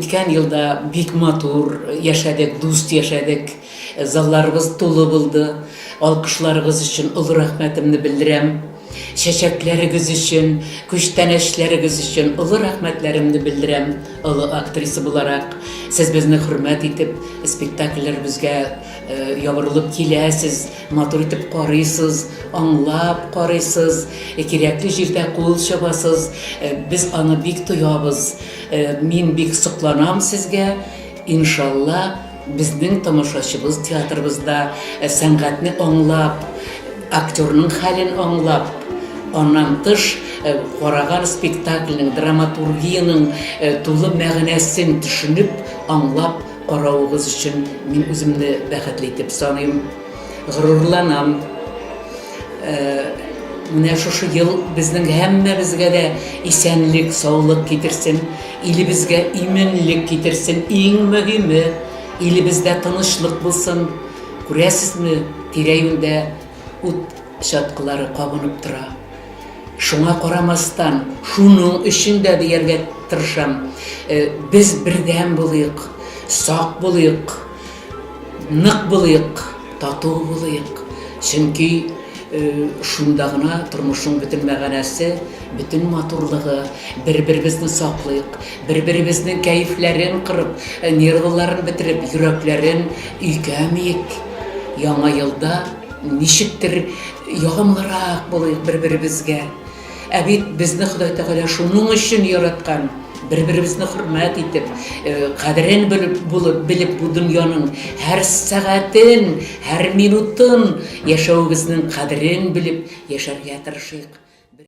үткән елда бик матур яшәдек, дус яшәдек. Залларыбыз тулы булды. Алкышларыгыз өчен олы рәхмәтемне белдерәм. Чәчәкләрегез өчен, күчтәнәчләрегез өчен олы рәхмәтләремне белдерәм, олы актриса буларак, сез безне хөрмәт итеп, спектакльләребезгә ябырылып киләсез, матур итеп карыйсыз, аңлап карыйсыз, кирәкле җирдә кул чабасыз, без аны бик тоябыз, мин бик сокланам сезгә, иншалла, Безнең тамашачыбыз театрыбызда сәнгатьне аңлап, актерның хәлен аңлап, аннан тыш караган спектакльнең, драматургиянең тулы мәгънәсен төшенеп, аңлап каравыгыз өчен мин үземне бәхетле итеп саныйм. Горурланам. Менә шушы ел безнең һәммәбезгә дә исәнлек, саулык китерсен, илебезгә иминлек китерсен. Иң мөһиме, илебездә тынычлык булсын. Күрәсезме, тирә-юньдә ут чаткылары кабынып тора. Шуңа карамастан, шуның өчен дә дияргә тырышам, без бердәм булыйк, сак булыйк, Нык булыйк, тату булыйк. Чөнки шунда гына тормышның бөтен мәгънәсе, бөтен матурлыгы. Бер-беребезне саклыйк, бер-беребезнең кәефләрен кырып, нервыларын бетереп, йөрәкләрен өйгәмик. Яңа елда ничектер ягымлырак булыйк бер-беребезгә. Ә бит безне Ходай Тәгалә шуның өчен яраткан. Бер-беребезне хөрмәт итеп, э, кадерен белеп булып, белеп бу дөньяның һәр сәгатен, һәр минутын яшәвебезнең кадерен белеп яшәргә тырышыйк.